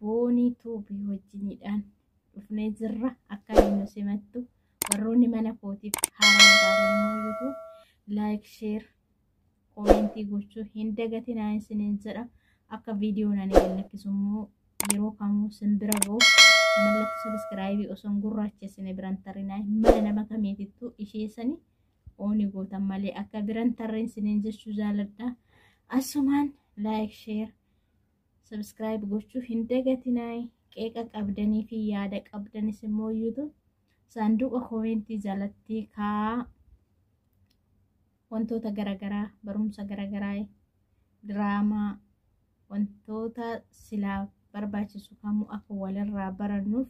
boonii tuubii wajjiniidhaan dhufnee jirra akka nu simattu warroonni mana kootiif haaraa taatan immoo yuutuub laayik sheer koomentii gochuu hin dagatinaa isiniin jedha akka viidiyoon ani gallakkisu immoo yeroo kamuu sin bira ga'u mallattoo sabiskiraayibii osoo hin gurraachessine biran tarrinaa mana nama kamiitittuu ishee sanii ooni gootan malee akka biran tarreen siniin jechuu jaaladha asumaan laayik sheer subscribe gochuu hin dagatinaa qeeqa qabdanii fi yaada qabdanis immoo youtube saanduqa koomentii jalatti kaa wantoota garaagaraa barumsa garaagaraa diraamaa wantoota silaa barbaachisu kamuu akka walirraa barannuuf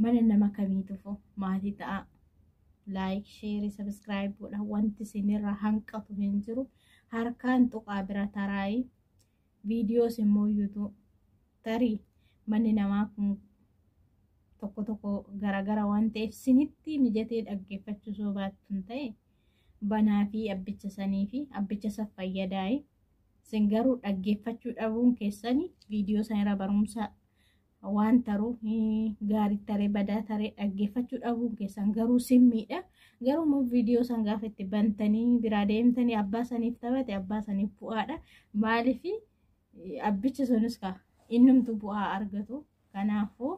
mana nama kamiitufu maatii ta'a laayik sheerii sabiskiraayib godha wanti isinirraa hanqatu hin jiru harkaan tuqaa bira taraayi viidiyoos immoo yuutuu tarii manni namaa kun tokko tokko garagara waan ta'eef sinitti mijatee dhaggeeffachuu soo baattuun ta'e banaa fi abbicha sanii fi abbicha isa fayyadaa'e sin garuu dhaggeeffachuu dhabuun keessanii viidiyoo sanirra barumsa waan taruu gaarii taree badaa taree dhaggeeffachuu dhabuun keessan garuu simmiidha. Garuu immoo viidiyoo san gaafa itti bantanii biraa deemtanii abbaa saniif taphate abbaa saniif bu'aadha. Maaliif abbichi sunis kaa innumtu bu'aa argatu. Kanaafuu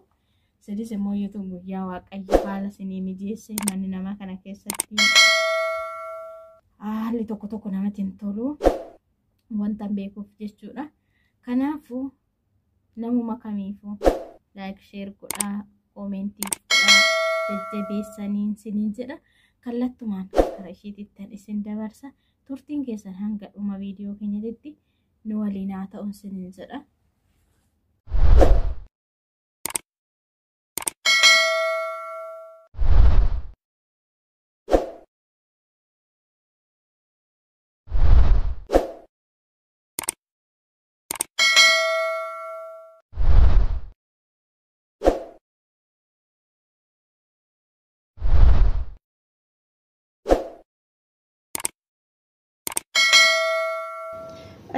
sinis immoo yuutuun guyyaa waaqayyo haala sinii mijeesse manni namaa kana keessatti haalli tokko tokko namatti hin tolu. Wanta beekuuf jechuudha. Kanaafuu Namuma kamiifuu like share godhaa koomentii godhaa jajjabeessaniin siniin jedha kallattumaan kara ishiitittan isin dabarsa turtiin keessan hanga dhuma viidiyoo keenyatitti nu waliin haa ta'uun siniin jedha.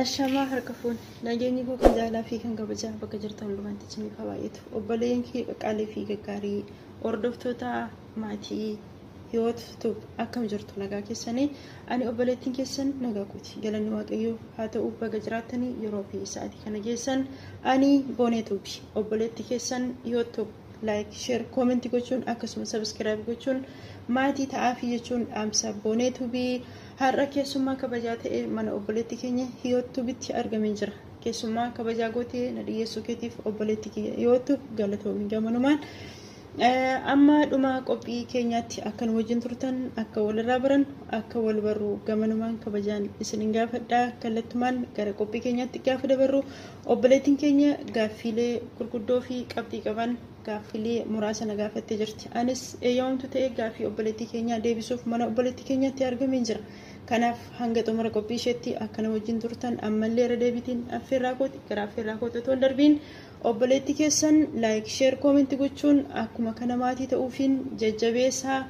Ashamaa harka fuun nageenyi koo kan jaalaa fi kan kabajaa bakka jirtan hundumaatti isiniif haa baay'atu obboleen kee qaqqaalee fi gaggaarii hordoftoota maatii hiwoot tub akkam jirtu nagaa keessanii ani obboleettiin keessan nagaa kooti galanni waaqayyoo haa ta'u baga jiraattanii yeroo fi sa'aatii kana geessan ani boonee tubi obboleettii keessan hiwoot tub laayik sheer koomentii gochuun akkasuma sabiskiraayib gochuun maatii ta'aafii jechuun dhaamsa boonee tubii har'a keessummaa kabajaa ta'e mana obboleettii keenya hiwoot tubitti argamee jira keessummaa kabajaa gootee na dhiyeessuu keetiif obboleettii kiyya hiwoot tub galatoomi gamanumaan Amma dhuma qophii keenyaatti akka nu wajjin turtan akka walirraa barannu akka wal barru gamanumaan kabajaan isinin gaafadha kallattumaan gara qophii keenyaatti gaafa dabarru obboleettiin keenya gaaffiilee gurguddoo fi qabxii qaban gaaffiilee muraasa na gaafattee jirti anis eeyyamamtu ta'ee gaaffii obboleettii keenyaa deebisuuf mana obboleettii keenyaatti argameen jira kanaaf hanga xumura qophii isheetti akka na wajjin turtan ammallee irra deebiitiin affeerraa kooti gara affeerraa kooti otoo hin darbiin Obboleetti keessan like share comment gochuun akkuma kana maatii ta'uufiin jajjabeessaa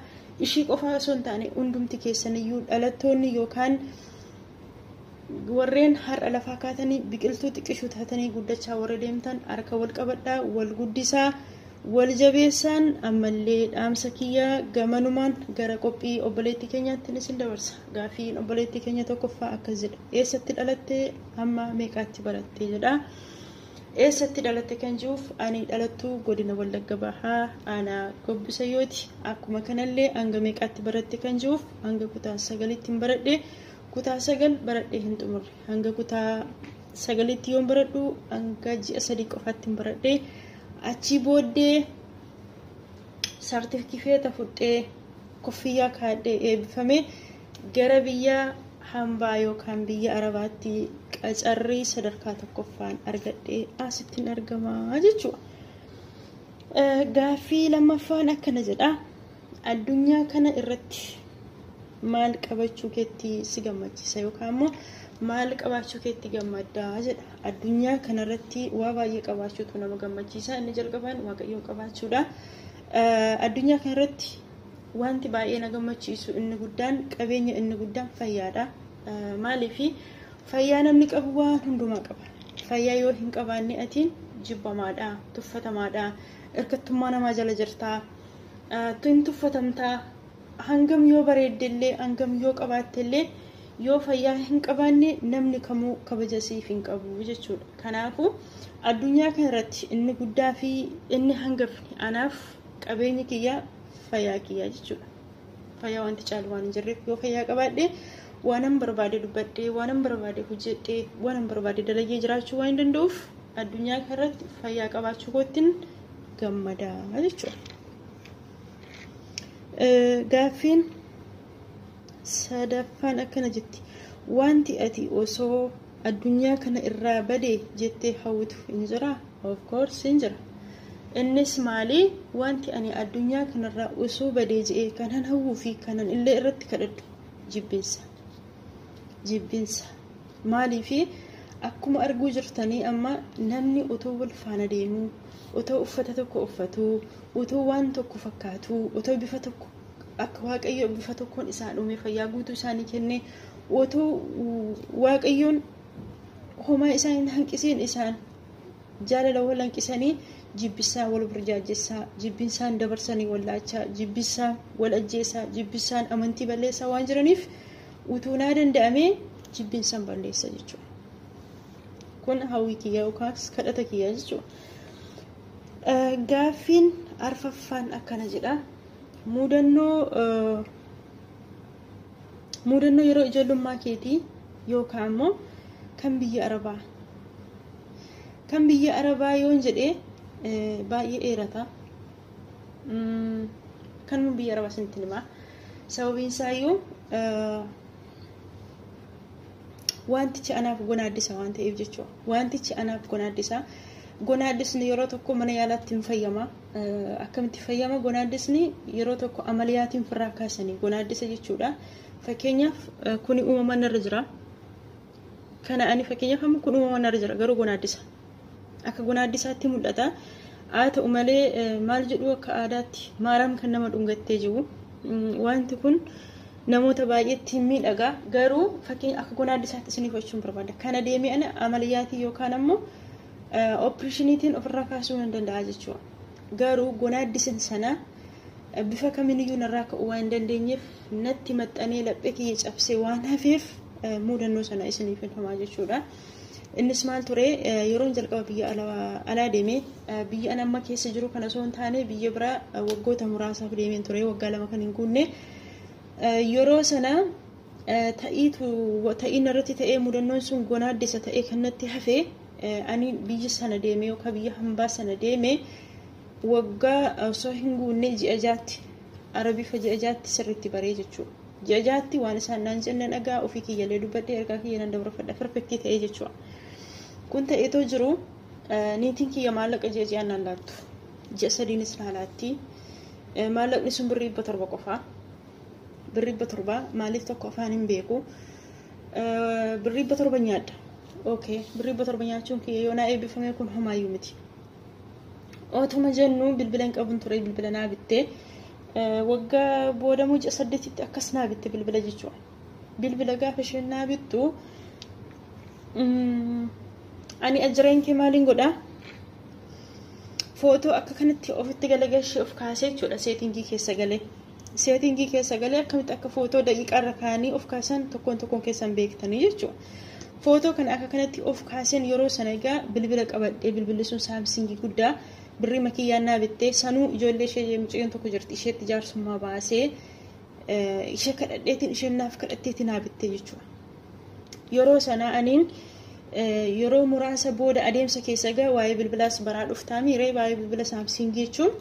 ishii qofaa osoo hin taane hundumti keessaniyyuu dhalattoonni yookaan warreen har'a lafaa kaatanii biqiltuu xiqqishuu taatanii guddachaa warra deemtan harka wal qabadhaa wal guddisaa wal jabeessaan ammallee dhaamsa kiyyaa gamanumaan gara qophii obboleettii keenyaatti isin dabarsa gaafiin obboleettii keenya tokkoffaa akkas jedha eessatti dhalattee amma meeqaatti barattee jedha. Eessatti dhalatte kan jiruuf ani dhalattuu godina Wallagga Bahaa aanaa Gobbisayyooti. Akkuma kanallee hanga meeqaatti baratte kan jiruuf hanga kutaa sagalitti hin baradhe. Kutaa sagal baradhee hin xumurre. Hanga kutaa sagalitti yoon baradhu hanga ji'a sadii qofaatti hin baradhe. Achii booddee saartifikeeta fudhee kuffiyyaa kaadhee eebbifame. Gara biyya hambaa yookaan biyya Arabaatti qacarrii sadarkaa tokkoffaan argadhee asittin argama jechuudha. Gaaffii lammaffaan akkana jedha. Addunyaa kana irratti maal qabachuu keetti si gammachiisa yookaan immoo maal qabaachuu keetti gammadda jedha. Addunyaa kanarratti waa baay'ee qabaachuutu nama gammachiisa. Inni jalqabaan waaqayyoon qabaachuudha. Addunyaa kanarratti Wanti baay'ee na gammachiisu inni guddaan qabeenya inni guddaan fayyaadha. Maaliif fayyaa namni qabu waan hundumaa qaba. Fayyaa yoo hin qabaanne atiin jibbamaadha, tuffatamaadha, irkattummaa namaa jala jirtaa, hin tuffatamtaa, hangam yoo bareeddellee, hangam yoo qabaattellee yoo fayyaa hin qabaanne namni kamuu kabaja siif hin qabu jechuudha. Kanaafuu addunyaa kanarratti inni guddaa fi inni hangafni anaaf Qabeenyi kiyya fayyaa kiyyaa jechuudha. Fayyaa wanti caalu waan hin jirreef yoo fayyaa qabaadhe waanan barbaade dubbadhee waanan barbaade hojjedhee waanan barbaade dalayyee jiraachuu waan hin danda'uuf addunyaa kanarratti fayyaa qabaachuu koottiin gammadaa jechuudha. Gaaffiin sadaffaan akkana jetti wanti ati osoo addunyaa kana irraa bade jettee hawwitu hin jiraa of course hin jira innis maali wanti ani addunyaa kanarraa osoo badee je'ee kanan hawwuu fi kanan illee irratti kadhadhu jibbinsa jibbinsa maalii fi akkuma arguu jirtanii amma namni otoo wal faana deemuu otoo uffata tokko uffatuu otoo waan tokko fakkaatuu otoo bifa tokko akka waaqayyo bifa tokkoon isaan uumee fayyaa guutuu isaanii kennee otoo waaqayyoon homaa isaan hin hanqisiin isaan jaalala wal hanqisanii jibbisaa wal burjaajessaa jibbisaan dabarsanii wal laachaa jibbisaan wal ajjeessaa jibbisaan amantii balleessaa waan jiraniif utuu naa danda'amee jibbisaan balleessa jechuudha. Kun hawwii kiyyaa yookaas kadhata kiyyaa jechuudha. Gaaffiin arfaffaan akkana jedha. Muudannoo muudannoo yeroo ijoollummaa keetii yookaan immoo kan biyya arabaa kan biyya arabaa yoon jedhee baay'ee dheerata kan biyya arabaa isinitti himaa sababiin isaayyuu wantichi anaaf gonaaddisa waan ta'eef jechuudha wantichi anaaf gonaaddisa gonaaddisni yeroo tokko mana yaalaatti hin fayyama Akkamitti fayyama gonaaddisni yeroo tokko amaliyaatiin ofirraa kaasanii gonaaddisa jechuudha. Fakkeenyaaf kuni uumamaan irra jira. Kana ani fakkeenyaaf amma kun uumamaan irra jira garuu gonaaddisa. Akka gonaaddisaatti mul'ata. Haa ta'u malee maal jedhu akka aadaatti maaraam kan nama dhungattee jiru. Wanti kun namoota baay'eetti miidhaga garuu fakkeenya akka gonaaddisaatti isiniif jechuun barbaada. Kana deemee ana amaliyaatii yookaan ammoo oopireshiniitiin ofirraa kaasuu nan danda'a jechuudha. Garuu gonaaddisin sana bifa kamiiniyyuu narraa ka'uu waan hin dandeenyeef natti maxxanee laphee kiyya cabsee waan hafeef muudannoo sana isiniif hin himaa jechuudha. Innis maal ture yeroon jalqaba biyya alaa deeme biyya an amma keessa jiru kana osoo hin taane biyya biraa waggoota muraasaaf deemeen ture waggaa lama kan hin guunne yeroo sana ta'iitu ta'ii narratti ta'ee mudannoon sun gonaaddessa ta'ee kan natti hafe ani biyya sana deemee yookaan biyya hambaa sana deemee waggaa osoo hin guunne ji'a jaatti arabifa ji'a jaatti sirriitti baree jechuudha. Ji'a jaatti waan isaan naan jennan dhagaa ofii kiyyalee dubbadhee ergaa kiyya nan dabarfadha perfektii ta'ee jechuudha. Kun ta'eetoo jiru niitiin kiyya maallaqa ji'a ji'aan naan laattu. Ji'a sadiinis naa laatti. Maallaqni sun birrii dhibba torba qofaa. birri dhibba torbaa maaliif tokko afaan hin beeku birri dhibba torba nyaadha okay birri dhibba torba nyaachuun kiyya yoo naa eebbifamee kun homaayyuu miti otuma jennu bilbila hin qabun ture bilbila naa bitte waggaa booda muca saddeetitti akkas naa bitte bilbila jechuudha bilbila gaafa isheen naa bittu ani ajireen kee maaliin godhaa footoo akka kanatti ofitti galagalshee of kaasee jechuudha seetingii keessa galee. seetingii keessa galee akkamitti akka footoo daqiiqaa irra kaa'anii of kaasan tokkoon tokkoon keessan beektanii jechuudha. Footoo kana akka kanatti of kaasen yeroo sana egaa bilbila qabadhee bilbilli sun saamsingii guddaa birrii makiyyaan naa bittee sanuu ijoollee ishee mucayyoon tokko jirti isheetti jaarsummaa baasee ishee kadhadheetiin isheen naaf kadhatteetiin naa bittee jechuudha. Yeroo sana aniin yeroo muraasa booda adeemsa keessa egaa waa'ee bilbilaas baraa dhuftaa miiree waa'ee bilbila saamsingii jechuun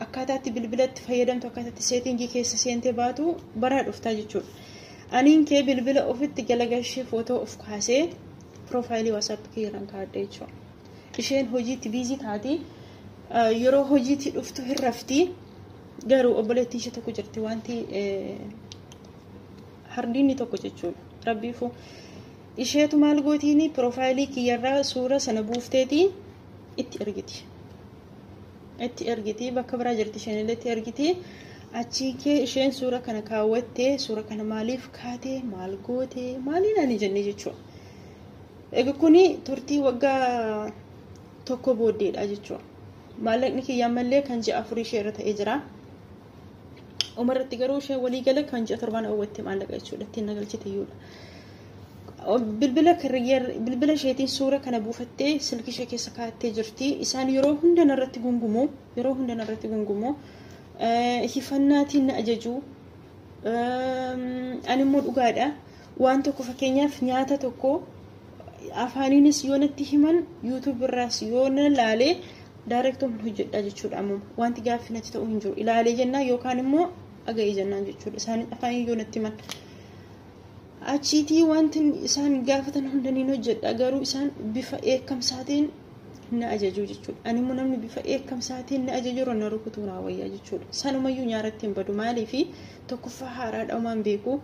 Akkaataa itti bilbila itti fayyadamtu akkaataa itti seetingii keessa seentee baatu baraa dhuftaa jechuudha. Aniin kee bilbila ofitti jala gashee footoo of kaasee piroofaayilii waasaappi kiyyarraan kaa'adha jechuudha. Isheen hojiitti biizii taati yeroo hojiitti dhuftu hin rafti garuu obboleettii ishee tokko jirti wanti hardiinni tokko jechuudha. Rabbiifu isheetu maal gootiini piroofaayilii kiyyarraa suura sana buufteeti itti ergiti. itti ergiti bakka biraa jirti isheen illee itti ergiti achii kee isheen suura kana kaawwatte suura kana maaliif kaate maal goote maaliin ani jenne jechuudha. Egaa kuni turtii waggaa tokko booddeedha jechuudha. Maallaqni kiyya ammallee kan ji'a afurii ishee irra ta'ee jira. Uma irratti garuu ishee walii gala kan ji'a torbaan oowwatte maallaqa jechuudha ittiin nagalchite iyyuudha. Bilbila bilbila isheetiin suura kana buufattee silkii ishee keessa kaa'attee jirti. Isaan yeroo hunda narratti gungumu yeroo hunda narratti gungumu hifannaatiin na ajaju. Ani immoo dhugaadha. Waan tokko fakkeenyaaf nyaata tokko afaaniinis yoo natti himan yuutuub irraas yoo na laalee daayireektoon hojjedhaa jechuudha amma wanti gaaffii natti ta'u hin jiru ilaalee jennaan yookaan immoo dhaga'ee jennaan jechuudha isaan afaaniin yoo natti himan achiitii wanti isaan gaafatan hunda niin hojjedha garuu isaan bifa eekkamsaatiin na ajajuu jechuudha ani immoo namni bifa eekkamsaatiin na ajaju irra na rukutuu naa wayyaa jechuudha sanumayyuu nyaaratti hin badu maaliifi tokkoffaa haaraadha umaan beeku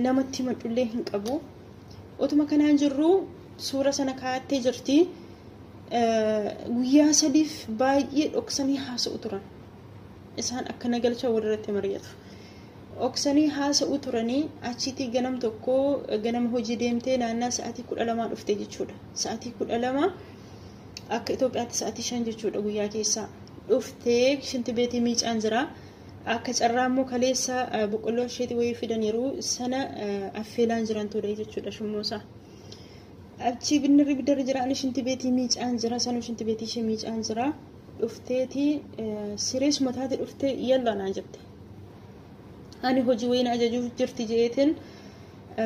namatti himadhullee hin qabu otuma kanaan jirru suura sana kaa'attee jirti guyyaa sadiif baay'ee dhoksanii haasa'u turan isaan akka nagalcha walirratti mari'atu dhoksanii haasa'u turanii achiitii ganam tokko ganama hojii deemtee naannaa sa'aatii kudha lamaa dhufte jechuudha sa'aatii kudha lama akka Itoophiyaatti sa'aatii shan jechuudha guyyaa keessaa dhuftee shinti beetii miicaan jira Akka carraa immoo kaleessa boqqolloo asheetii wayii fidaniiru sana affeelaan jiran ture jechuudha shummoosaa. Achi binnirri biddarri jira ani shinti beetii miicaan jira sanuu shinti beetii ishee miicaan jira dhufteeti sirees mataati dhuftee yalla naan jette. Ani hojii wayii na ajajuuf jirti jeeteen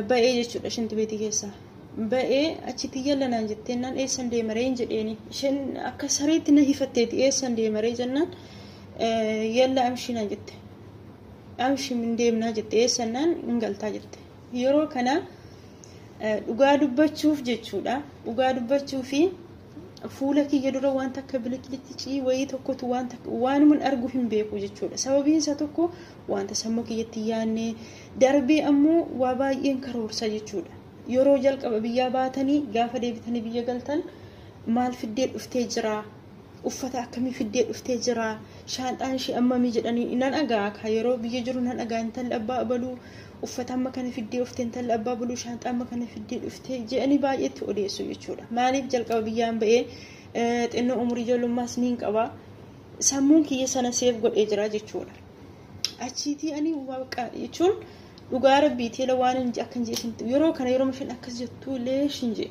ba'ee jechuudha shinti beetii keessaa. Ba'ee achitti yalla naan jettee naan eessan deemaree hin jedheeni isheen akka sareetti na hifatteeti eessan deemaree jennaan. yalla amshina jette amshim hin deemnaa jette eessannaan hin galtaa jette yeroo kana dhugaa dubbachuuf jechuudha dhugaa dubbachuu fi fuula kiyya dura waan takka biliqilitti cii wayii tokkotu waan takka waanuman argu hin beeku jechuudha sababiin isaa tokko wanta sammuu kiyyatti yaanne darbee ammoo waa baay'een karoorsa jechuudha yeroo jalqaba biyyaa baatanii gaafa deebitanii biyya galtan maal fiddee dhuftee jiraa uffata akkamii fiddee dhuftee jira shaanxaan ishee ammamii jedhanii nan dhagaa ka yeroo biyya jiru nan dhagaa intalli abbaa abaluu uffata amma kana fiddee dhufte intalli abbaa abaluu shaanxaa amma kana fiddee dhufte jedhanii baay'eetti odeessu jechuudha maaliif jalqaba biyyaan ba'ee xinnoo umurii ijoollummaas niin qaba sammuun kiyya sana seef godhee jira jechuudha achiitii ani waaqa jechuun dhugaa rabbiitii waan hin akka hin jedhe yeroo kana yeroo isheen akkas jettu illee hin jedhe.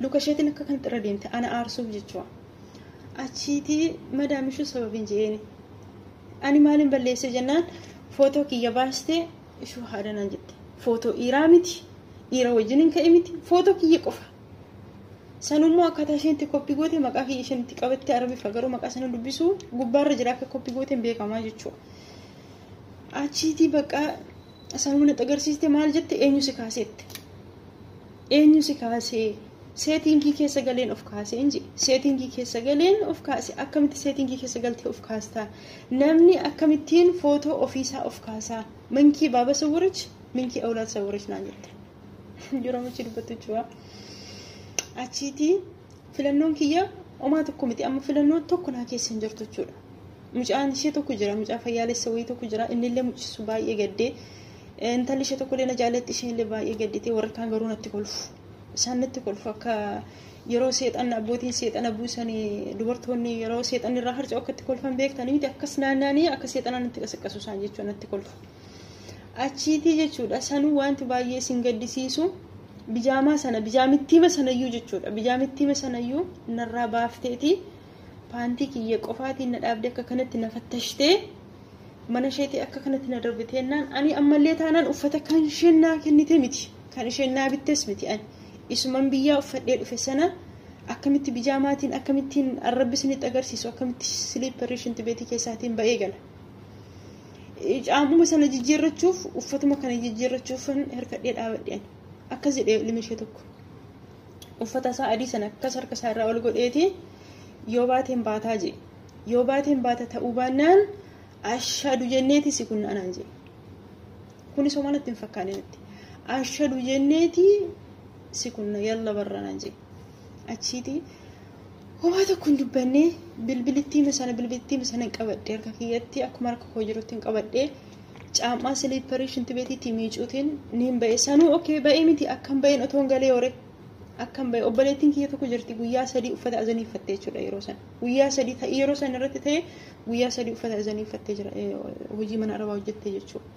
luka isheetiin akka kan xirra deemte ana aarsuuf jechuudha. Achiitii madaamishuu sababiin je'eeni. Ani maaliin balleessee jennaan footoo kiyya baastee ishuu haadha naan jette. Footoo dhiiraa miti dhiira wajjin hin ka'e miti footoo kiyya qofa. Sanummoo akkaataa isheen itti koppii goote maqaa kiyya isheen itti qabatte arabiffa garuu maqaa sana dubbisuu gubbaarra jira akka koppii goote hin beekamaa jechuudha. Achiitii bakka sanuma natti agarsiiste maal jette eenyu si kaasette. Eenyu si kaasee? Seetingii keessa galeen of kaasee hin jedhe. Seetingii keessa galeen of kaase. Akkamitti seetingii keessa galtee of kaastaa? Namni akkamittiin footoo ofiisaa of kaasaa? Minkii baaba sawwirich, minkii awlaad sawwirich naan jette. Yeroo michi dubbattu jechuudha. Achiitii filannoon kiyya omaa tokko miti amma filannoon tokko naa keessa hin jirtu jechuudha. Mucaan ishee tokko jira mucaa fayyaalessa wayii tokko jira innillee mucisu baay'ee gaddee Intalli ishee tokkollee na jaalatti isheenillee baay'ee gadditee warri kaan garuu natti kolfu. Isaan natti kolfu akka yeroo seexanni abbootiin seexana buusanii dubartoonni yeroo seexanni irraa harca'u akka itti kolfan beektanii miti akkas naanna'anii akka seexana natti qasaqqasu isaan jechuun natti kolfu. Achiitii jechuudha sanuu wanti baay'ee isin gaddisiisu bijaamaa sana bijaamittiima sanayyuu jechuudha bijaamittiima sanayyuu narraa baafteetii paantii kiyya qofaatiin na dhaabde akka kanatti na fattashtee mana isheetii akka kanatti na darbite jennaan ani ammallee taanaan uffata kan isheen naa kennite miti kan isheen naa bittes miti ani isuman biyyaa uffadhee dhufe sana akkamitti bijaamaatiin akkamittiin arrabbi isinitti agarsiisu akkamitti siliipparii shinti beetii keessaatiin ba'ee gala. Caamuma sana jijjiirrachuuf uffatuma kana jijjiirrachuuf hirkadhee dhaabadhe ani akkas jedhee ilmi ishee tokko uffata isaa adii sana akkas harka isaa irraa ol godheeti yoo baateen baataa jee. Yoo baateen baata ta'uu baannaan ashadu jenneeti si kunna anaan jedhe. Kunis homaa natti hin fakkaanne natti. Ashadu jenneeti si kunna yalla barra anaan jedhe. Achiiti homaa tokko hin dubbanne bilbilittiima sana bilbilittiima sana hin qabadhe harka kiyyatti akkuma harka koo jirutti hin qabadhe. Caammaa siliipparii shinti beetiitti miicuutiin niin ba'e. Sanuu okee ba'ee miti akkam ba'een otoon galee hore. Akkam ba'e obboleettiin kiyya tokko jirti guyyaa sadii uffata azanii uffattee jechuudha yeroo sana. guyyaa sadii ta'e yeroo san irratti ta'e guyyaa sadii uffata isanii uffattee jira hojii mana arabaa hojjettee jechuudha.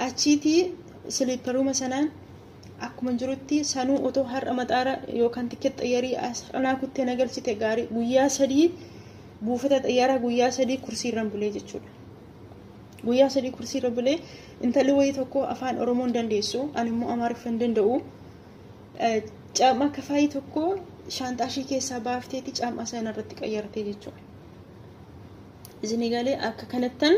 Achiitii siliipparuma sanaan akkuma jirutti sanuu otoo har'a maxaara yookaan tikkeet xayyarii asxanaa kuttee nagalchite gaarii guyyaa sadii buufata xayyaaraa guyyaa sadii kursiirran bulee jechuudha. Guyyaa sadii kursiirra bulee intalli wayii tokko afaan Oromoo hin dandeessu ani immoo Amaariffa hin danda'u. Caam'aa kafaayii tokko shaanxaa ishee keessaa baafteeti caam'aa sana irratti qayyartee jechuudha. Isin galee akka kanattan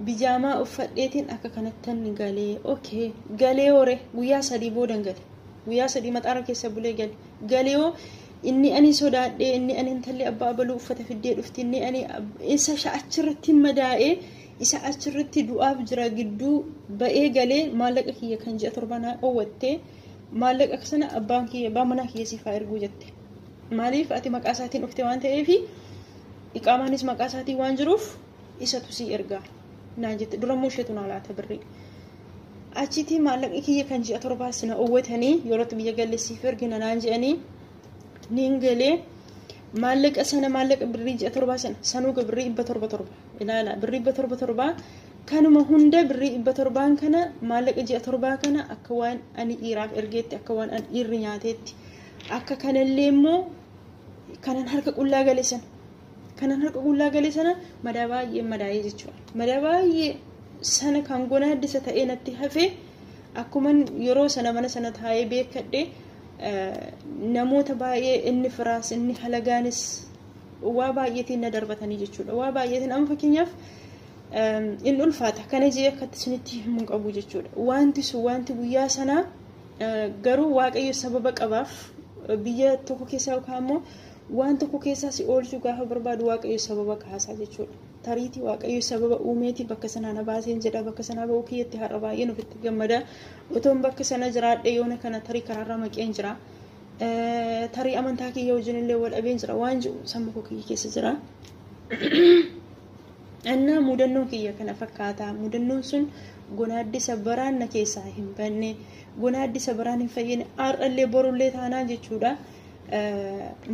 bijaamaa uffadheetiin akka kanattan galee okay galee hore guyyaa sadii boodan gale guyyaa sadii maxaara keessa bulee gale galee hoo inni ani sodaadhee inni ani intalli abbaa abaluu uffata fiddee dhufti inni ani isa achirratti madaa'ee isa achirratti du'aaf jira gidduu ba'ee galee maallaqa kiyya kan ji'a torba naa dhowwatte maallaqa sana abbaan kiyya abbaan manaa kiyya siif haa erguu jette maaliif ati maqaa isaatiin dhufte waan ta'eef iqaamaanis maqaa isaatiin waan jiruuf isatu sii ergaa naan jette durammoo isheetu naa laata birrii achitti maallaqni kiyya kan ji'a torbaa sina owwatanii yerootti biyya galle siif ergina naan jedhanii niin galee maallaqa sana maallaqa birrii ji'a torbaa sana sanuu ga birrii dhibba torba torba ilaala birrii dhibba torba torbaa kanuma hunda birrii dhibba torbaan kana maallaqa ji'a torbaa kana akka waan ani dhiiraaf ergeetti akka waan ani dhiirri nyaateetti akka kanallee immoo kanan harka qullaa gale sana kanan harka qullaa gale sana madaa baay'ee madaa'ee jechuudha madaa baay'ee sana kan gonaaddisa ta'ee natti hafee akkuman yeroo sana mana sana taa'ee beekadhee namoota baay'ee inni firaas inni halagaanis waa baay'eetiin na darbatanii jechuudha. Waa baay'eetiin amma fakkeenyaaf in ulfaata kana jee akkatti isinitti himu hin qabu jechuudha. Wanti sun wanti guyyaa sanaa garuu waaqayyo sababa qabaaf biyya tokko keessaa yookaan immoo waan tokko keessaa si oolchuu gaafa barbaadu waaqayyo sababa kaasaa jechuudha. Tariitii waaqayyo sababa uumeeti bakka sanaa na baaseen jedha bakka sanaa ba'uu kiyyatti har'a baay'een ofitti gammada. Otoon bakka sana jiraadhe yoona kana tarii karaarra maqeen jira. Tarii amantaa kiyya wajjin illee wal dhabeen jira waan jiru sammuu koo kiyya keessa jira. Annaa mudannoon kiyya kana fakkaata. Mudannoon sun gonaaddi sabbaraan na keessaa hin banne. Gonaaddi sabbaraan hin fayyine. Har'allee borullee taanaan jechuudha.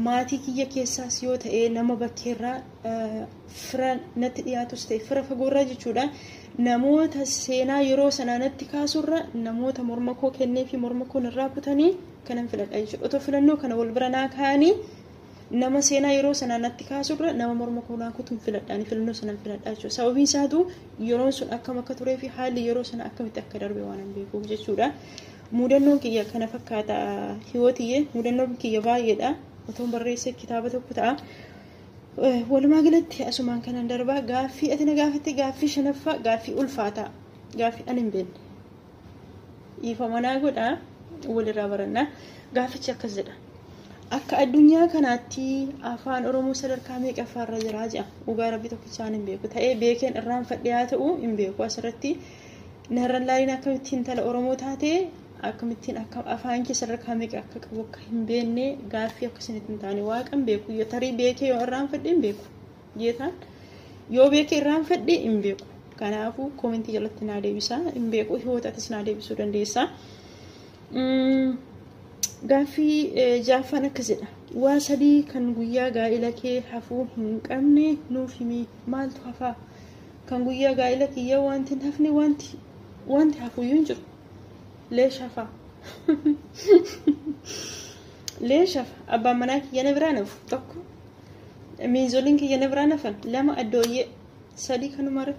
Maatii kiyya keessaas yoo ta'e nama bakkeerraa fira natti dhiyaatus ta'e fira fagoorraa jechuudha. Namoota seenaa yeroo sanaa natti kaasurra namoota morma koo kennee fi morma koo irraa kutanii kanan filadha jechuudha. Otoo filannoo kana wal bira naa kaa'anii nama seenaa yeroo sanaa natti kaasurra nama morma koo naa kutuun filadhaani filannoo sanan filadhaa jechuudha. Sababiin isaatu yeroon sun akkam akka turee fi haalli yeroo sana akkamitti akka darbe waan hin beekuuf jechuudha. Mudannoon kiyya kana fakkaata hiwootiyye mudannoon kiyya baay'eedha. Otoon barreesse kitaaba tokko ta'a. Walumaa galatti asumaan kanan darbaa gaaffii ati na gaafatte gaaffii shanaffaa gaaffii ulfaataa gaaffii ani hin beekne. Dhiifama naa godha walirraa barannaa gaaffichi akkas jedha. Akka addunyaa kanaatti afaan Oromoo sadarkaa meeqaffaarra jiraa jedha. Dhugaa rabbi tokkichaan hin beeku. Ta'ee beekeen irraanfadhe haa ta'u hin beeku asirratti narra laaliin akkamitti intala Oromoo taatee akkamittiin akka afaan kee sadarkaa meeqa akka qabu akka hin beekne gaaffii akka isinitti hin taane waaqan beeku yoo tarii beekee yoo irraanfadhe hin beeku jeetaan yoo beekee irraanfadhe hin beeku kanaafuu koomentii jalatti naa deebisaa hin beeku hiwootaatis naa deebisuu dandeessaa. Gaaffii jaaffaan akkas jedha waa sadii kan guyyaa gaa'ila kee hafuu hin qabne nuuf himi maaltu hafaa kan guyyaa gaa'ila kiyya wanti hin hafne wanti wanti hafuyyuu hin jiru leeshafa leeshafa abbaan manaa kiyya na biraa nafu tokko miinzoliin kiyya na biraa nafan lama addooyyee sadii kanumara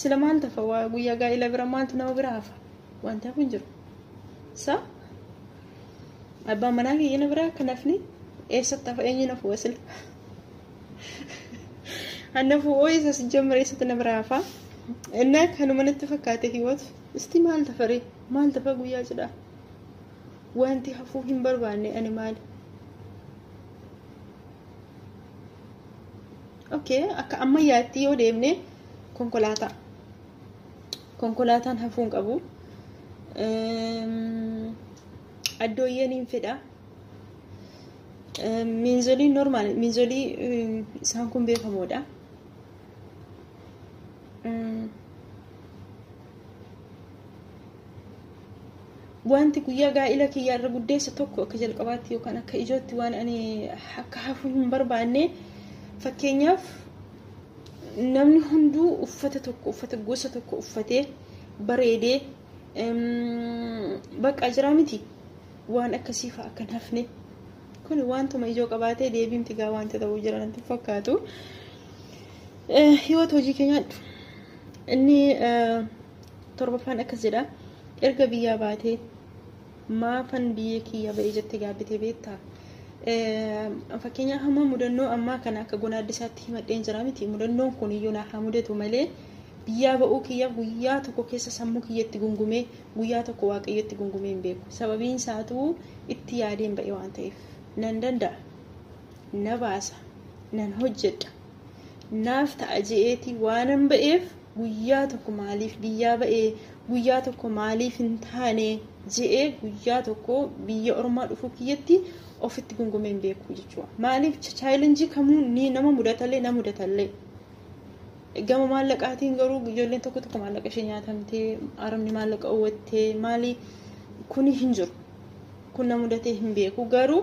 sila maal tafa waa guyyaa gaa'ila bira maaltu nama bira hafa wanta kun jiru sa abbaan manaa kiyya na biraa akka nafni eessatti hafa eenyu nafu wasila annafu ooyisa sijjammara eessatti na biraa hafa innaa kanuma natti fakkaate hiwatu Isti maal tafare maal tafa guyyaa cidhaa wanti hafuu hin barbaanne ani maali okay akka ammayyaatti yoo deemne konkolaataa konkolaataan hafuu hin qabu addooyyeen hin fedha miinzolii normaal miinzolii isaan kun beekamoodha wanti guyyaa gaa'ila kiyya irra guddeessa tokko akka jalqabaatti yookaan akka ijootti waan ani akka hafu hin barbaanne fakkeenyaaf namni hunduu uffata tokko uffata gosa tokko uffatee bareedee baqqaa jiraa miti waan akkasii fa'a akka hin hafne Kun wantuma ijoo qabaatee deebiimti gaa wanta ta'uu jira natti hin fakkaatu. Eh, Hiwat hojii kee nyaadhu. Inni eh, torbaffaan akkas jedha. Erga biyyaa baatee maafan biyya kiyya ba'e jette gaabbitee beektaa? Eh, Fakkeenyaa hamma mudannoo ammaa kana akka gonaaddisaatti himadheen jira miti. Mudannoon kun iyyuu naa haa mudatu malee biyyaa ba'uu kiyyaaf guyyaa tokko keessa sammuu kiyyatti gungumee Guyyaa tokko waaqayyotti gungumee hin beeku. Sababiin isaatuu itti yaadeen ba'e waan ta'eef. Nan danda'a. Na baasa. Nan hojjedha. Naaf ta'a je'eeti waanan ba'eef guyyaa tokko maaliif biyyaa ba'ee guyyaa tokko maaliif hin taane je'ee guyyaa tokko biyya ormaa dhufuu kiyyatti ofitti gungumee hin beeku jechuudha. Maaliif chaayilenjii kamuu ni nama mudatallee na mudatallee. Gama maallaqaatiin garuu ijoolleen tokko tokko maallaqa ishee nyaatamtee arabni maallaqa uwwattee maali kuni hin jiru. Kun na mudatee hin beeku garuu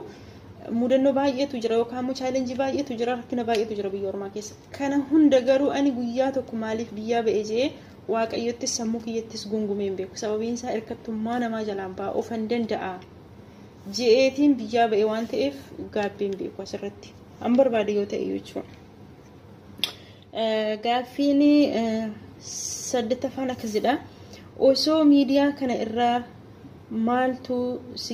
mudannoo baay'eetu jira yookaan immoo chaalenjii baay'eetu jira rakkina baay'eetu jira biyya ormaa keessatti. Kana hunda garuu ani guyyaa tokko maaliif biyyaa ba'e jee waaqayyottis sammuu kiyyattis gungumee hin beeku sababiin isaa hirkattummaa namaa jalaan ba'a ofan danda'a je'eetiin biyyaa ba'e waan ta'eef gaabbii hin beeku asirratti an barbaade yoo ta'e jechuudha. Gaaffiin saddettaffaan akkas jedha. Osoo miidiyaa kana irraa maaltu si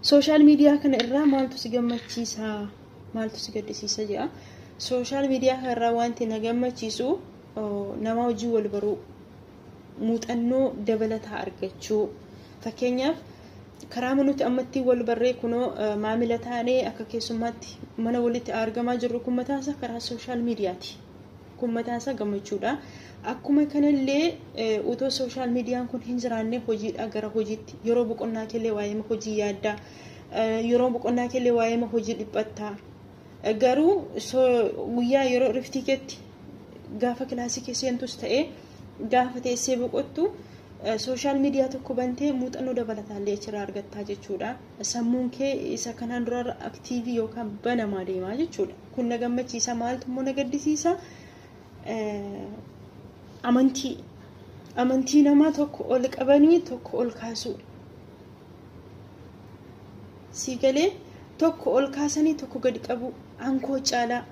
sooshaal miidiyaa kana irraa maaltu si gammachiisa maaltu si gaddisiisa jedha. Sooshaal miidiyaa kana irraa wanti na gammachiisu nama wajjin wal baruu muuxannoo dabalataa argachuu fakkeenyaaf karaama nuti ammatti wal barree kunoo maamila taanee akka keessummaatti mana walitti argamaa jirru kun mataansa karaa sooshaal miidiyaati. Kun mataansa gammachuudha. Akkuma kanallee utoo sooshaal miidiyaan kun hin jiraanne hojiidhaa gara hojiitti yeroo boqonnaa keellee waa'ee hojii yaaddaa yeroo boqonnaa keellee waa'ee hojii dhiphattaa Garuu guyyaa yeroo iriftii keetti gaafa kilaasii kee seentus ta'ee gaafa teessee boqottu sooshaal miidiyaa tokko bantee muuxannoo dabalataallee achirraa argattaa jechuudha. Sammuun kee isa kanaan durarra aktiivii yookaan banamaa deemaa jechuudha. Kun na gammachiisa maaltu immoo na gaddisiisa amantii amantii namaa tokko ol qabanii tokko ol kaasuu. sii galee tokko ol kaasanii tokko gad qabu ankoo caalaa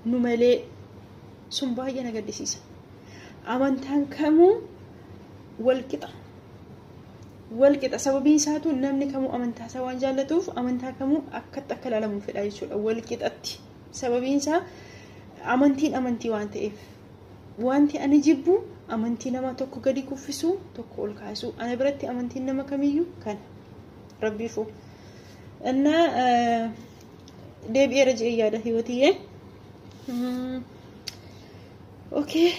nu malee sun baay'ee na gaddisiisa amantaan kamuu walqixa walqixa sababiin isaatu namni kamuu amantaa isaa waan jaallatuuf amantaa kamuu akkatti akka ilaalamu fedha jechuudha walqixatti sababiin isaa amantiin amantii waan ta'eef Wanti ani jibbu amantii nama tokko gadi kuffisuu, tokko ol kaasuu. Ana biratti amantiin nama kamiyyuu kana. Rabbiifuu. Innaa deebi'eera je'ee yaada hiwatiyyee. Okee,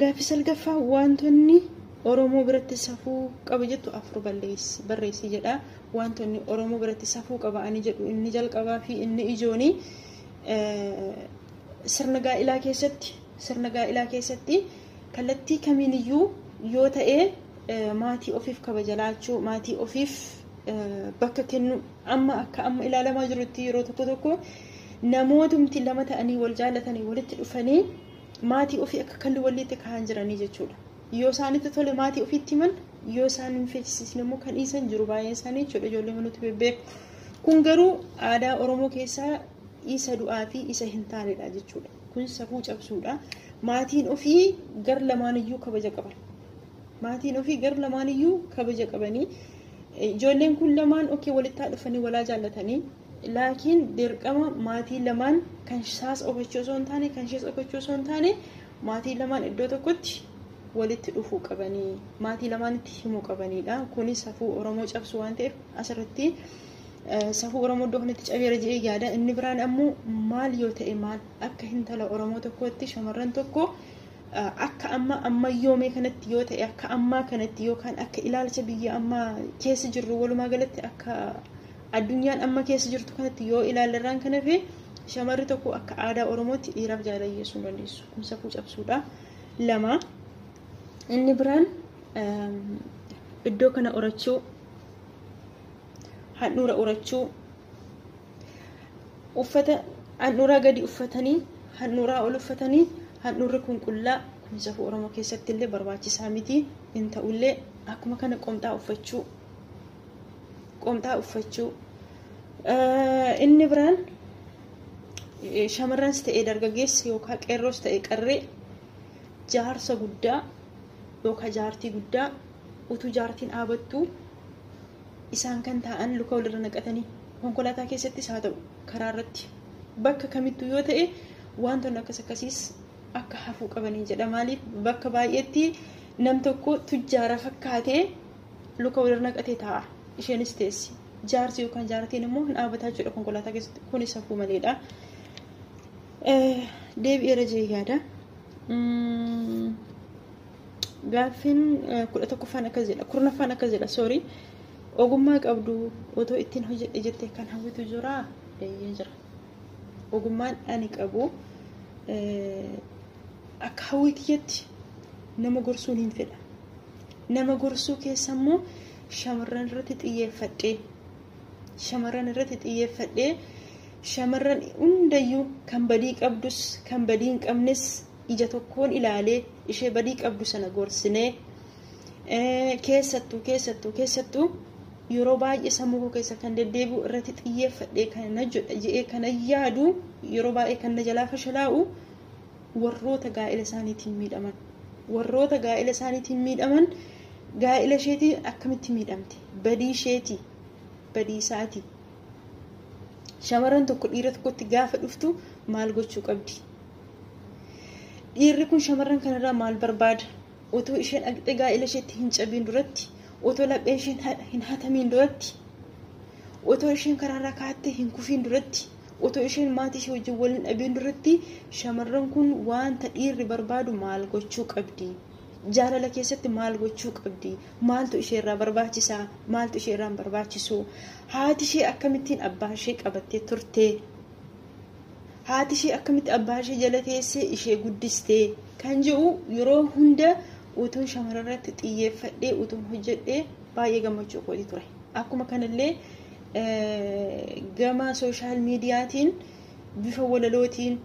gaaffii salgaffaa wantoonni Oromoo biratti safuu qaba jettu afur balleessi barreessi jedha. Wantoonni Oromoo biratti safuu qaba ani jedhu inni jalqabaa fi inni ijooni Sirna gaa'ilaa keessatti sirna gaa'ilaa keessatti kallattii kamiiniyyuu yoo ta'e maatii ofiif kabaja laachuu maatii ofiif bakka kennu amma akka amma ilaalamaa jirutti yeroo tokko tokko namootumti lama ta'anii wal jaallatanii walitti dhufanii maatii ofii akka kalli walitti kaa'an jiranii jechuudha. Yoo isaanitti tole maatii ofiitti himan yoo isaan hin feesisne immoo kan dhiisan jiru baay'een isaanii jechuudha ijoollee manuutti bebbeeku. Kun garuu aadaa Oromoo keessaa isa du'aa fi isa hin taanedha jechuudha. Kun safuu cabsuudha. Maatiin ofii gar lamaaniyyuu kabaja qaban. Maatiin ofii gar lamaaniyyuu kabaja qabanii ijoolleen kun lamaan okee walittaa dhufanii walaa jaallatanii laakiin dirqama maatii lamaan kan isaas ofachuu osoo hin taane kan ishees ofachuu osoo hin taane maatii lamaan iddoo tokkotti walitti dhufuu qabanii maatii lamaanitti himuu qabaniidha. Kunis safuu Oromoo cabsu waan ta'eef asirratti Safuu Oromoo iddoo kanatti cabeera jedhee yaada. Inni biraan ammoo maal yoo ta'e maal akka hintala Oromoo tokkootti shamarran tokko akka amma ammayyoomee kanatti yoo ta'e akka ammaa kanatti yookaan akka ilaalcha biyya ammaa keessa jirru walumaa galatti akka addunyaan amma keessa jirtu kanatti yoo ilaallerraan kan hafe shamarri tokko akka aadaa Oromootti dhiiraaf jaalala dhiyeessuu hin dandeessu. Kun safuu cabsuudha. Lama inni biraan iddoo kana horachuu handhuura urachuu uffata handhuuraa gadi uffatanii handhuuraa ol uffatanii handhuurri kun qullaa kun safuu oromoo keessatti illee barbaachisaa miti hin ta'ullee akkuma kana qomxaa uffachuu qomxaa uffachuu inni biraan shamarranis ta'e dargaggeessi yookaan qeerroos ta'e qarree jaarsa guddaa yookaan jaartii guddaa utuu jaartiin dhaabattu Isaan kan taa'an luka walirra naqatanii konkolaataa keessattis haa ta'u karaa irratti bakka kamittuu yoo ta'e wantoonni akkas akkasiis akka hafuu qabanii jedha. Maaliif bakka baay'eetti nam tokko tujjaara fakkaatee luka walirra naqatee taa'a. Isheenis teessi. Jaarsi yookaan jaartiin immoo hin dhaabataa jechuudha konkolaataa keessatti. Kunis hafuu maleedha. Deebi'eera jee yaada. Gaaffiin kudha tokkoffaan akkas jedha kurnaffaan akkas jedha soorii ogummaa qabdu otoo ittiin hojjedhe jettee kan hawwitu jira eeyyee jira ogummaan ani qabu akka hawwii kiyyatti nama gorsuun hin fedha nama gorsuu keessa immoo shamarran irratti xiyyeeffadhee shamarran irratti xiyyeeffadhee shamarran hundayyuu kan badii qabdus kan badii hin qabnes ija tokkoon ilaalee ishee badii qabdu sana gorsinee keessattuu keessattuu keessattuu yeroo baay'ee sammuu koo keessa kan deddeebi'u irratti xiyyeeffadhee kan na jedha jedhee kan yaadu yeroo baay'ee kan na jalaa fashalaa'u warroota gaa'ela isaaniitiin miidhaman warroota gaa'ela isaaniitiin miidhaman gaa'ela isheetii akkamitti miidhamte badii isheetii badii isaatii shamarran tokko dhiira tokkotti gaafa dhuftu maal gochuu qabdi Dhiirri kun shamarran kanarraa maal barbaada? Otoo ishee dhaqxee gaa'ila isheetti hin cabiin duratti, otoo lapheen isheen hin hatamiin duratti, otoo isheen karaarraa kaattee hin kufiin duratti, otoo isheen maatii ishee wajjin wal hin dhabiin duratti shamarran kun wanta dhiirri barbaadu maal gochuu qabdi? Jaalala keessatti maal gochuu qabdi? Maaltu ishee irraa barbaachisa? Maaltu ishee irraa hin barbaachisu? Haati ishee akkamittiin abbaa ishee qabattee turte? haati ishee akkamitti abbaa ishee jala teessee ishee guddistee kan jedhu yeroo hunda utuun shamarrarratti xiyyeeffadhee utuun hojjedhee baay'ee gammachuu kooti ture. Akkuma kanallee gama sooshaal miidiyaatiin bifa walalootiin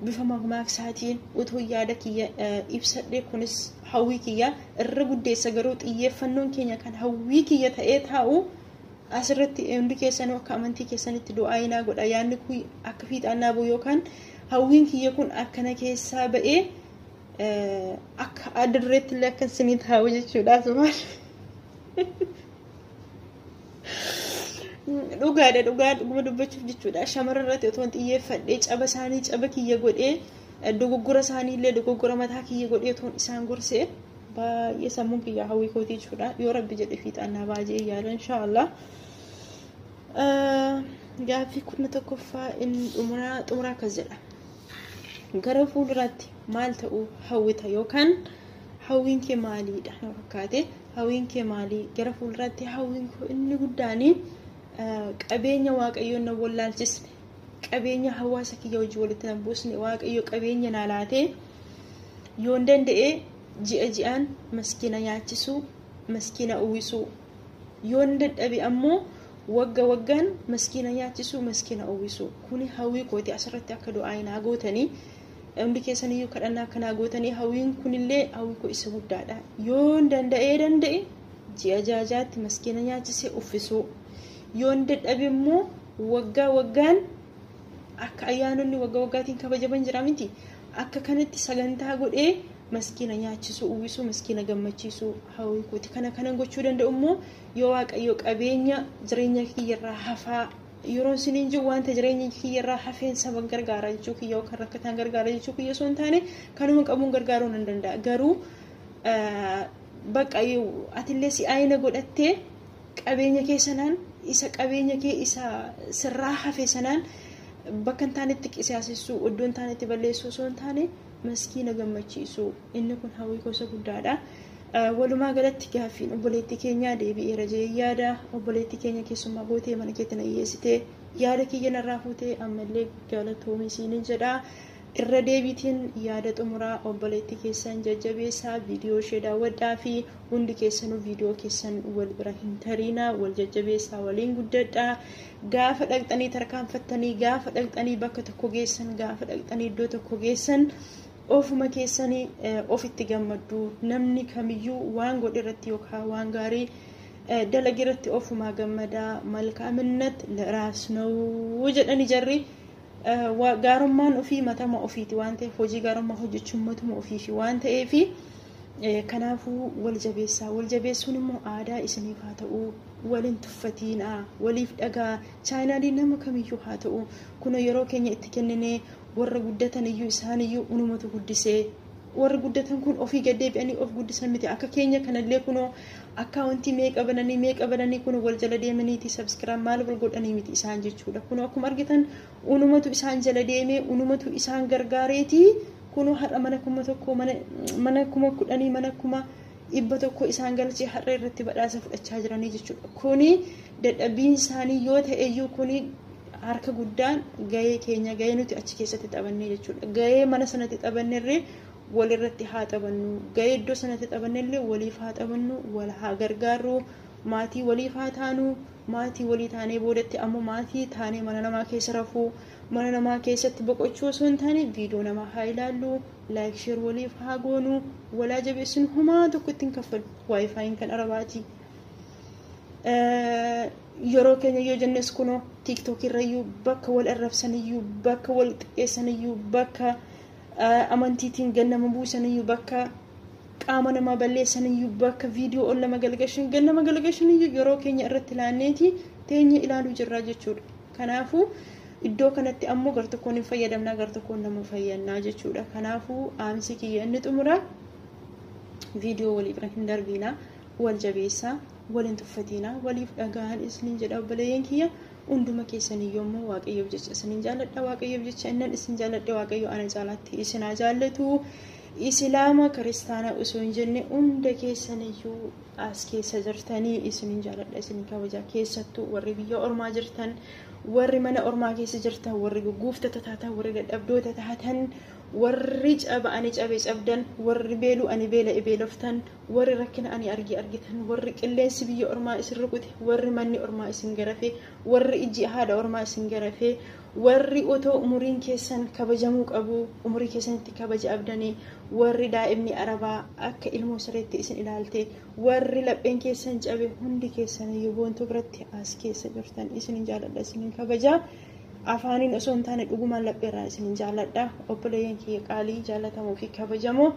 bifa mamaaksaatiin utuu yaada kiyya ibsadhee kunis hawwii kiyya irra guddeessa garuu xiyyeeffannoon keenya kan hawwii kiyya ta'ee taa'u As irratti hundi keessanuu akka amantii keessanitti du'aa'ii naa godha yaadni kun akka fiixaan naa bu'u yookaan hawwiin kiyya kun akka na keessaa ba'ee akka adda dureetti illee akka isinii taa'u jechuudha asumaan. Dhugaadha dhugaa dhuguma dubbachuuf jechuudha shamarran irratti otoo hin xiyyeeffadhee caba isaanii caba kiyya godhee dogoggora isaanii illee dogoggora mataa kiyya godhee otoo isaan gorsee. Baay'ee sammuun kiyyaa hawwii kootii jechuudha. Yoo rabbi jedhe fiixaan naa ba'a jedhee yaada inshaallah. Gaaffii kurna tokkoffaa inni xumuraa xumuraa akkas jedha. Gara fuulduraatti maal ta'uu hawwita yookaan hawwiin kee maaliidha na fakkaate hawwiin kee maalii gara fuulduraatti hawwiin koo inni guddaan qabeenya waaqayyoon na wallaalchisne qabeenya hawaasa kiyya hojii walitti na buusne waaqayyo qabeenya naa laatee. yoon danda'e ji'a ji'aan maskiina nyaachisuu maskiina uwwisuu yoon dadhabe ammoo wagga waggaan maskiina nyaachisuu maskiina uwwisuu kuni hawwii kooti asirratti akka du'aa naa gootanii hundi keessaniyyuu kadhannaa akka naa gootanii hawwiin kunillee hawwii koo isa guddaadha yoon danda'ee danda'e ji'a jaajaatti maskiina nyaachisee uffisuu yoon dadhabe immoo waggaa waggaan Akka ayyaanonni wagga waggaatiin kabajaman jira miti. Akka kanatti sagantaa godhee maskiina nyaachisuu, uwwisuu, maskiina gammachiisuu hawwii kooti. Kana kanan gochuu danda'u immoo yoo waaqayyo qabeenya jireenya kiyyarraa hafaa yeroon siniin jiru wanta jireenya kiyyarraa hafeen saban gargaara jechuu kiyya yookaan rakkataan gargaara jechuu kiyya osoo hin taane kanuma qabuun gargaaruu nan danda'a. Garuu bakka atillee si'aayina godhattee Qabeenya kee sanaan, isa qabeenya kee isa sirraa hafe sanaan bakka hin taanetti qisaasessuu, iddoo hin taanetti balleessuu osoo hin taane maskiina gammachiisuu. Inni kun hawwii koo isa guddaadha. Walumaa galatti gaaffiin obboleettii keenyaa deebi'eera jedhee yaada. Obboleettii keenya keessummaa gootee mana keetti na dhiyeessitee yaada kiyya narraa fuutee ammallee galatoomi siinin jedha. Irra deebiitiin yaada xumuraa obboleettii keessan jajjabeessaa, viidiyoo ishee daawwadhaa fi hundi keessanuu viidiyoo keessan wal bira hin tariinaa, wal jajjabeessaa, waliin guddadhaa. Gaafa dhaqxanii tarkaanfattanii, gaafa dhaqxanii bakka tokko geessan, gaafa dhaqxanii iddoo tokko geessan ofuma keessanii eh, ofitti gammaddu. Namni kamiyyuu waan godhe irratti yookaan waan gaarii eh, dalage irratti ofumaa gammadaa. Malkaaminnat liraas na'uu jedhani jarri. Wa- gaarummaan ofii matama ofiiti waan ta'eef hojii gaarummaa hojjechuun matuma ofiifi waan ta'eef eh, kanaafuu wal jabeessaa wal jabeessuun immoo aadaa isiniif haa ta'u waliin tuffatiinaa waliif dhagaa chaayinaalii nama kamiyyuu haa ta'u kun yeroo keenya itti kenninee warra guddatan iyyuu isaan iyyuu unumatu guddisee warri guddatan kun ofii gad deebi'anii of guddisan miti akka keenya kanallee kunoo akkaawuntii meeqa bananii meeqa bananii kun wal jala deemaniiti sabskiraab maal wal godhanii miti isaan jechuudha kunoo akkuma argitan unumatu isaan jala deemee unumatu isaan gargaareeti kunoo har'a mana kuma tokko mana mana kuma kudhanii mana kuma dhibba tokko isaan galchee har'a irratti badhaasa fudhachaa jiranii jechuudha kuni dadhabbiin isaanii yoo ta'eyyuu kuni Harka guddaan gahee keenya gahee nuti achi keessatti taphannee jechuudha. Gahee mana sanatti taphannerree walirratti haa taphannu. Gahee iddoo sanatti taphannellee waliif haa taphannu, wal haa gargaarru, maatii waliif haa taanu, maatii walii taanee boodatti ammoo maatii taanee mana namaa keessa rafuu, mana namaa keessatti boqochuu osoo hin taane viidiyoo namaa haa ilaallu, laayik sheer waliif haa goonu, walaa jabeessinu homaa tokko ittiin kaffalu. Waayifaayiin kan arabaati. yeroo keenya yoo jennes kunoo tiiktookii irrayyuu bakka wal arrabsaniyyuu bakka wal xiqqeessaniyyuu bakka amantiitiin gad nama buusaniyyuu bakka qaama namaa balleessaniyyuu bakka viidiyoo ol nama galgashan gad nama galgashaniyyuu yeroo keenya irratti laanneeti teenya ilaaluu jirraa jechuudha. Kanaafuu iddoo kanatti ammoo gartokkoon hin fayyadamnaa gartokkoon nama fayyannaa jechuudha. Kanaafuu dhaamsi kiyya inni xumuraa viidiyoo walii bira hin darbiinaa. wal jabeessaa wal hin tuffatiinaa waliif dhaga'aan isiniin jedha obboleeyyan kiyya hunduma keessaniyyuu immoo waaqayyoof jecha isiniin jaalladha waaqayyoof jecha innan isin jaalladhe waaqayyo ana caalaatti isin haa jaallatu isilaama kiristaana osoo hin jenne hunda keessaniyyuu as keessa jirtanii isiniin jaalladha isiniin kabaja keessattuu warri biyya ormaa jirtan warri mana ormaa keessa jirtan warri gugguuftota taatan warri dadhabdoota taatan warri caba ani cabe cabdan warri beelu ani beela beeloftan Warri rakkina ani arge argitan, warri qilleensi biyya ormaa isin rukute, warri manni ormaa isin garafe, warri ijji haadha ormaa isin garafe, warri otoo umuriin keessan kabajamuu qabuu umurii keessanitti kabaja abdane, warri daa'imni Arabaa akka ilmoo sareetti isin ilaalte, warri lapheen keessan cabe hundi keessaniyyuu Boontuu biratti as keessa jirtan isinin jaaladha isinin kabaja. Afaaniin osoo hin taane dhugumaan lapheerraa isinin jaaladha. Obboleeyyan kiyya qaalii jaalatamoo fi kabajamoo.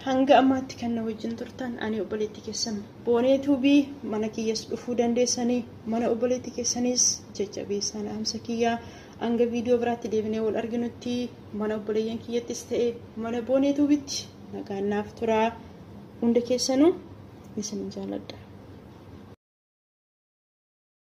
Hanga ammaatti kan na wajjin turtan ani obboleetti keessan boonee tuubii mana kiyyas dhufuu dandeessanii mana obboleetti keessaniis jajjabeessaan dhaamsa kiyyaa hanga viidiyoo biraatti deebinee wal arginutti mana obboleeyyan kiyyattis ta'e mana boonee tuubitti nagaan naaf turaa hunda keessanuu isin jaaladha.